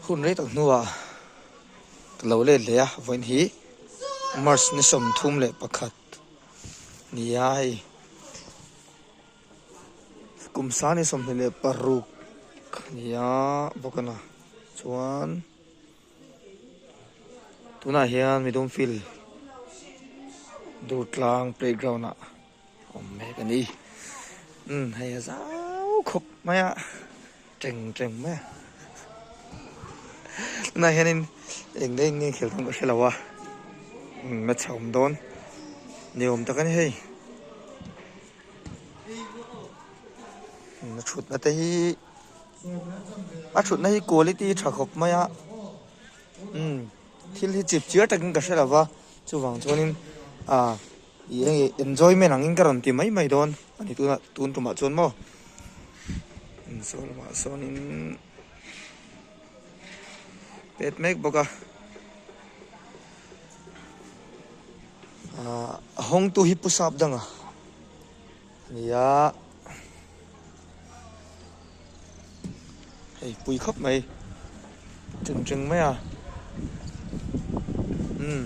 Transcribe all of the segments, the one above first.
Hun rei tak hnuah ka lo let leh a, vawiin hi March ni sawmthum leh pakhat nia hei kum sani sawmhnih leh paruk nia bawk a ni. Chuan tunah hian mi dum field durtlang playground ah. awm mek a ni. Umm hei a zau khawp mai a, ṭeng ṭeng mai a. Tunah hianin eng nge eng nge khelh dawn ka hre lo a, match a awm dawn ni awm tak a ni hei. A ṭhutna te hi, a ṭhutna hi quality ṭha khawp mai a. Umm thil hi chip chiar takin ka hre lo va, chuvang chuanin aah. I hei enjoyment angin ka rawn ti mai mai dawn a ni tuna tun tumah chuan maw Insawi lamah sawnin pet mek bawk a a hawngtu hi pu sap danga. Nia hei pui khawp mai chun cheng mai a umm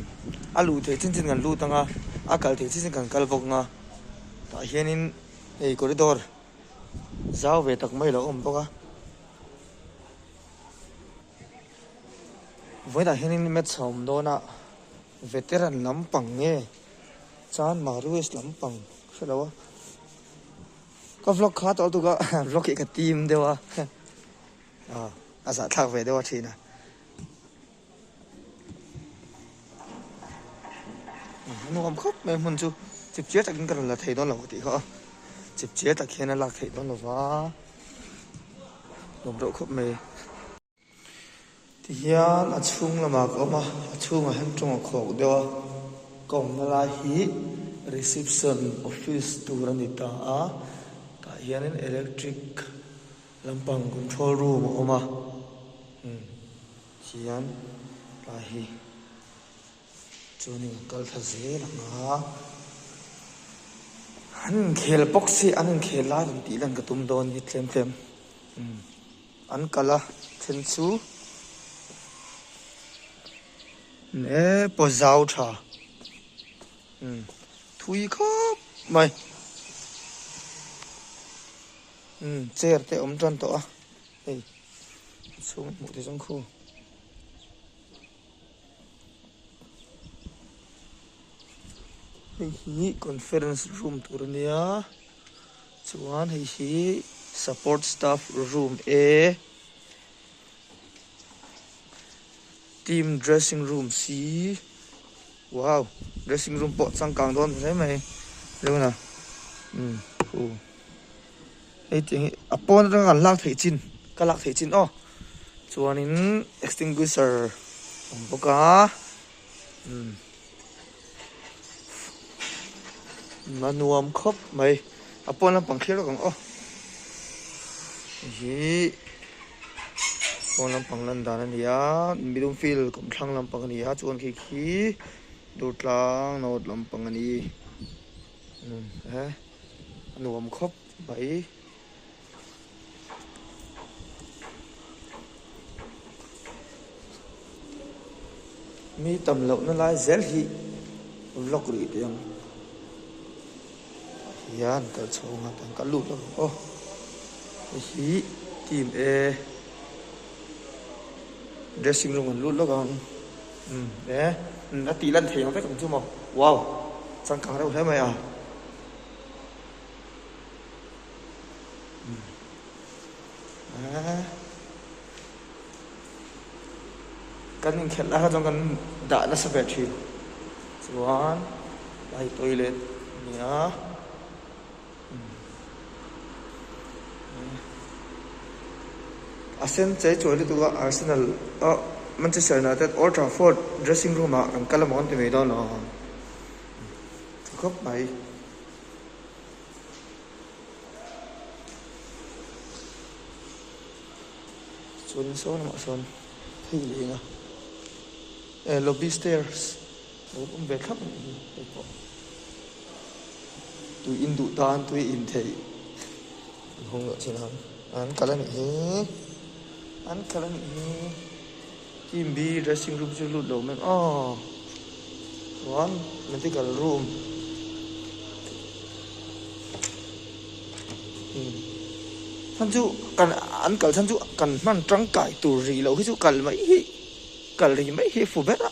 a luh theih chin chin kan lut anga a kal theih chin chin kan kal bawk anga tah hianin hei corridor zau ve tak mai a lo awm bawk a vawilah hianin maths a awm dawn a veteran lam pang nge. Chuan Maruis lampang hrelo a ka vlog kha tawlh tuk a vlog hi ka tim deuh a ah a zah thlak ve deuh a thin a a nuam khawp mai hmun chu chip chiar takin ka rawn la thei dawn lo tih kha a chip chiar tak hian a lak thei dawn lo va nuam reuh khawp mai. Ti hian a chhung lamah ka awm a, a chhungah hian tawng a khawk deuh a, ka awmna lai hi reception office tur a ni ta a, tah hianin electric lampang control room a awm a, umm ti hian lai hi chuanin an kal thla zel ang a, an inkhel bawk si, an inkhel lai kan tih dan ka tum dawn ni tlem tlem umm. An kal a then chu e pawh zau tha umm thui khawp mai umm chair te awm tan tawh a hei a chhung hmuh theih zawng khaw. Hei hi conference room tur a nia chuan hei hi support staff room e team dressing room c wow dressing room pawh changkang dawn ta hle mai lo na umm u. hei tiang hi a pawn atanga kan lak theih chin ka lak theih chin aw chuanin extinguisher a awm bawk a umm umm a nuam khawp mai a pawn lampang kher vek ang aw hei hi pawn lampang lan dan a ni a middle field kum thlang lampang a ni a chuan khi khi durtlang nawt lampang a ni. Nun e, a nuam khawp mai. Mi tam lohna lai zel hi vlog rih teh ang hian kal chhung a kan kal lut a aw hei hi team e dressing room an lut lawk ang. Umm e, umm a tih lan thei ang vek ang chu maw? Wow! Changkang reuh hle mai a. Umm e, kan inkhelh lai ho chuan kan dah nasa ve thin. Chuan, a hi toilet a ni a. A sen chei chuai lutuk a Arsenal a Manchester United Old Trafford dressing room ah kan kal a mawn ti mai dawn lo ang. Tha khawp mai. Chuan in sawi lamah sawn hei leng a. Eh lobby stairs. Lut awm ve thlap mai hi kei pawh tui in duh tan tui in theih an hawng loh chin ang an kal anih hi an kal anih hi team B dressing room chu lut lo meng a chuan medical room chan chu kan an kal chan chu kan hman tangkai tur rih loh hi chu kal mai hi kal rih mai hi fu ber a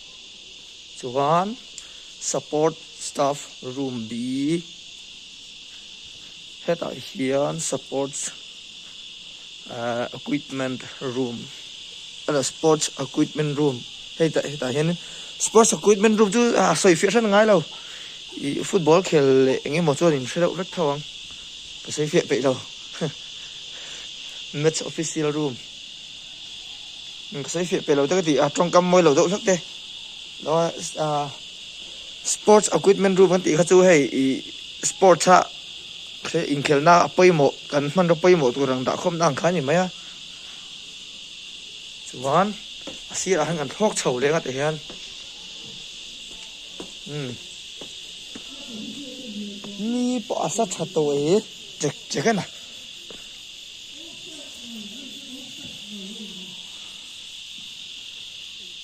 Chuan support staff room B hetah hian support equipment room emaw sports equipment room hei tah hetah hian sports equipment room chu a sawi fiah hran ngai lo ih football khel leh eng emaw chuan inhre deuh hret tho ang ka sawi fiah peih lo match official room. Min ka sawi fiah piah lo te ka ti a, tawngkam mawi lo deuh hlek te Sports Equipment Room kan tih kha chu hei i Sports a inkhelhna a pawimawh kan hmanraw pawimawh tur ang dahkhawmna ang kha a ni mai a, chuan a sirah khan kan thlawk chho leh ang a tih hian umm ni pawh a sa tha tawh e chek chek e na.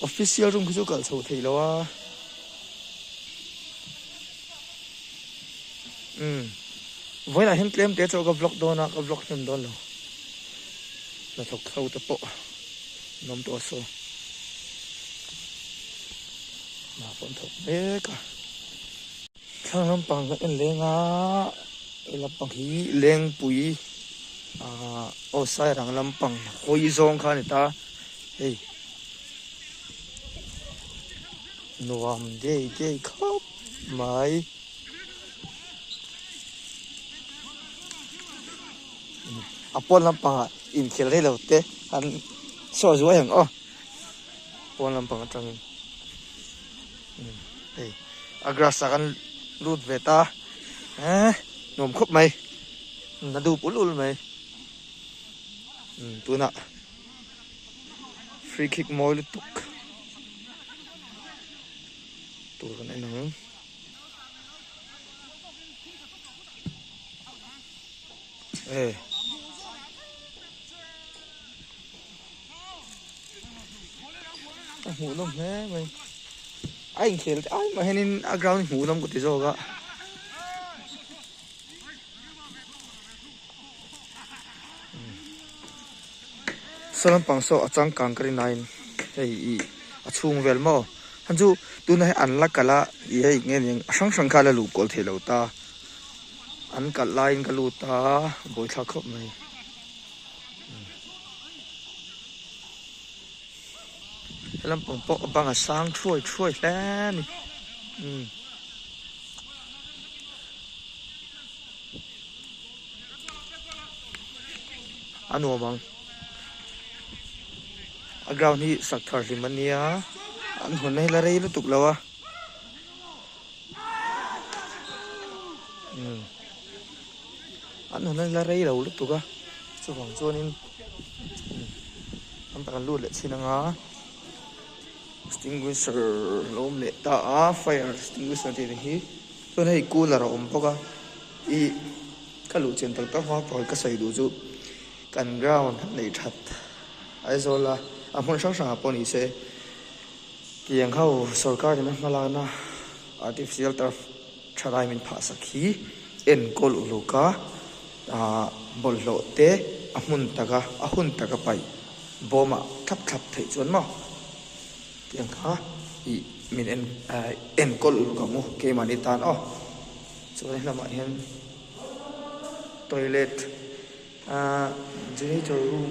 Official room khi chu kal chho theih lo a umm vawiin ah hian tlem te chu ka vlog dawn a ka vlog hnem dawn lo hnathawk tho te pawh an awm tawh a saw hna a pawn thawk mek a. Thlang lampang kan en leng a, he lampang hi Lengpui aah aw Sairang lampang hawi zawng kha a ni ta, hei nuam daih daih khawp mai a pawn lampang ah inkhelh daih lo te an sawi zuai ang aw pawn lampang atangin. Hei a grass ah kan lut ve ta eh nuam khawp mai na dup ul ul mai tunah free kick mawi lutuk tur kan en ang eh a hmuh nawm hle mai a inkhel te ai mah hianin a ground i hmuh nawm ka ti zawk a saw lampang saw a changkang ka rin aiin hei i a chhung vel maw han chu tuna hei an la kalh a i hei nge eng a hrang hrang kha a la luh kual theih lo ta an kalh laiin ka lut a a bawihthla khawp mai. Lampang pawh a bang a sang thuai thuai hle a ni. Hmm. A nuam ang. A ground hi sak thar hlim a nia. An hawn a hi la rei lutuk lo a. an han la rei lo lutuk a chuvang chuanin tam tak an lut leh thin anga extinguisher a lo awm leh ta a fire extinguisher tih ang hi chuan hei cooler a awm bawk a ih ka luh chin tak tak hmang pawl ka sawi duh chu kan ground a nei that Aizawl a a hmun hrang hrangah pawh ni se. Tiang ho sorkarin a hmalakna artificial turf thalai min phahsak hi enkawl uluka bawlhhlawh te a hmun taka, a hun taka paih bawma thlap thlap theih chuan maw tiang kha i min en enkawl uluka mu keimahni tan aw. Chuan he lamah hian toilet ahh janitor room.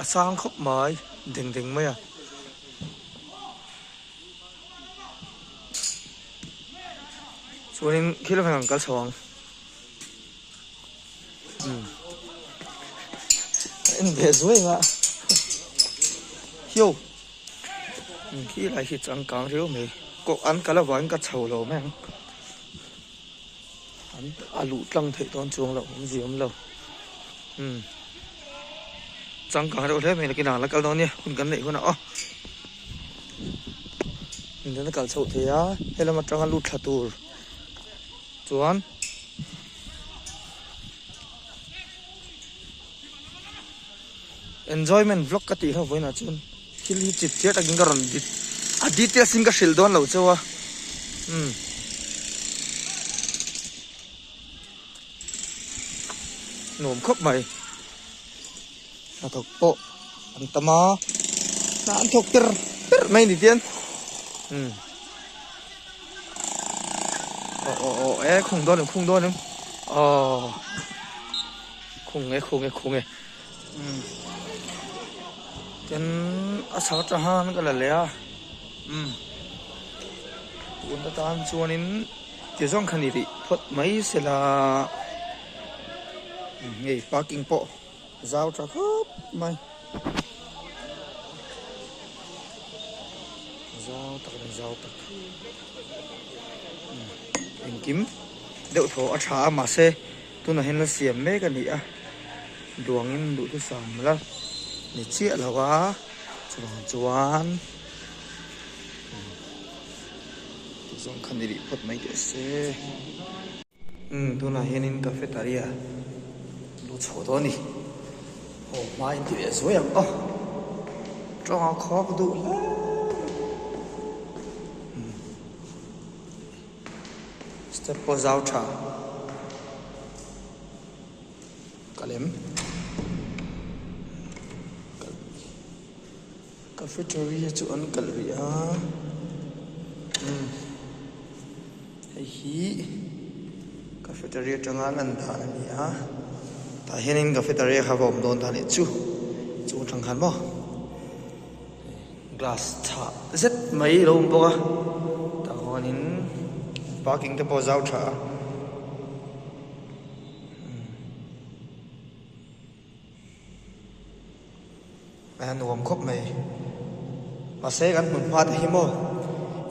a sang khawp mai deng deng mai a. Chuanin khil vang an kal chho ang. En beh zuai nga. Hio. Khi lai hi changkang riau mai. Ko an kal avangin ka chho lo mai ang. An a luh tlang theih dawn chuang lo awm zi awm lo umm changkang reuh hle mai nakin a la kal dawn nia hun kan neih hunah aw min dana kal chhoh thei a helam atanga lut thla tur chuan enjoyment vlog ka tih hlauh vawiinah chuan Thil hi chip chiah takin ka rawn dit a details in ka hrilh dawn lo chauh a umm nuam khawp mai hnathawk pawh an tam a hna an thawk tir tir mai ni tien umm oh oh oh e khung dawn em khung dawn em oh khung e khung e khung e Tin a chhak ta han ka la leh a umm tun atan chuanin ti zawng kha ni rih phawt mai se la hei parking pawh zau tha khawp mai zau tak leh zau tak engkim deuh thaw a tha a mahse. Tunahin la siam mek a nih a, duangin duhthusam la ni chiah loh a, chuvang chuan tih zawng khan i rih phawt mai teh a se. Umm, tunah hianin cafeteria duh chhoh tawh a ni. Aw, hmai inti leh zuai ang aw, tawng a khawk duh hle. Umm. Step pawh zau tha ka lem. Cafeteria chu an kalh rih a. Hei hi cafeteria tanga lan dan a ni a. Tah hian in cafeteria kha va awm dawn ta leh chu. Chungchang khan maw. Glass chhah zet mai a lo awm bawk a, tah huanin parking te pawh a zau tha a. Eng a nuam khawp mai. Mahse kan hmun hma te hi maw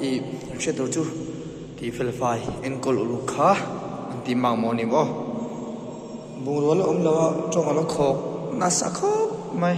i kan hriat loh chu tih fel fai enkawl uluk kha an tih mak maw ni maw. Bungraw la awm lo a tawng a la khawk nasa khawp mai.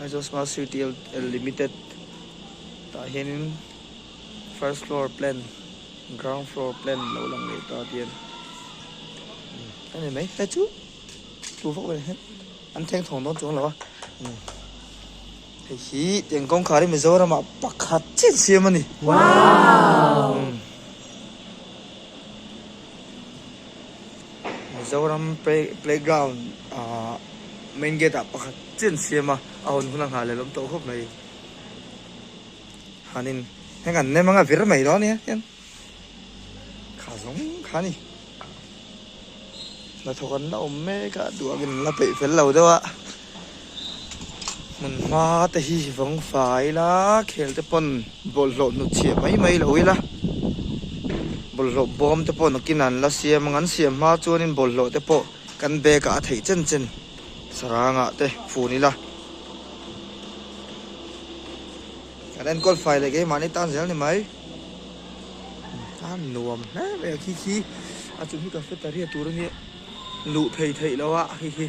Aizawl Smart City Limited tah hianin first floor plan ground floor plan lo lang leh ta tien a ni mai hei chu tlu vak vel hian an theng thawng dawn chuang lo a hei hi tiang kawngkhar i mizoram ah pakhat chiah siam a ni wow Mizoram playground ah main gate ah pakhat chian siam a a hawn hun a nghah leh lawm tawh khawp mai. Han in heng an nem ang a vir mai dawn nia hian kha zawng kha a ni. Hnathawk an la awm mek a duh ang in an la peih fel lo deuh a. Hmun hma te hi vawng fa ila khel te pawn bawlhhlawh hnut chhiah mai mai lo ila bawlhhlawh bawm te pawh nakin an la siam ang an siam hma chuanin bawlhhlawh te pawh kan bag ah a theih chen chen sarang ah te fun ila kan enkawl fai leh keimah ni tan zel ni mai a nuam hle mai a khi khi a chung hi cafeteria tur a nia luh phei theih loh a khi khi.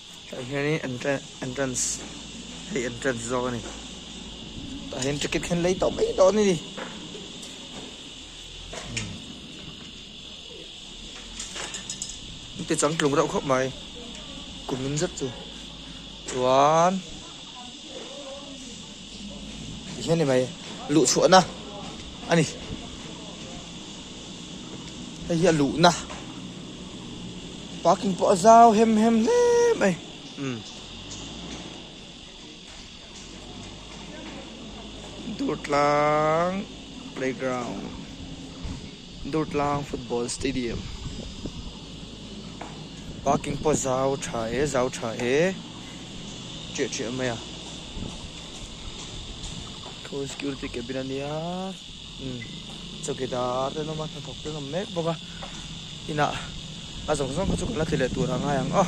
Hei hian hi entrance hei entrance zawk a ni tah hian ticket khen lei tawh mai tawh a ni ni te chang tlung reuh khawp mai kum in zet chu chuan Ti hian ni mai. Luh chhuahna a ni. Hei hi a luhna. Parking pawh a zau hem hem hle mai. Um. Durtlang playground. Durtlang Football Stadium parking pawh zau tha e zau tha e ṭiah ṭiah mai a thun security cabin a nia umm chawkidar te an awm a hnathawk te an awm mek bawk a inah a zawng zawng kha chu kan la thli leh tur a ngai ang aw.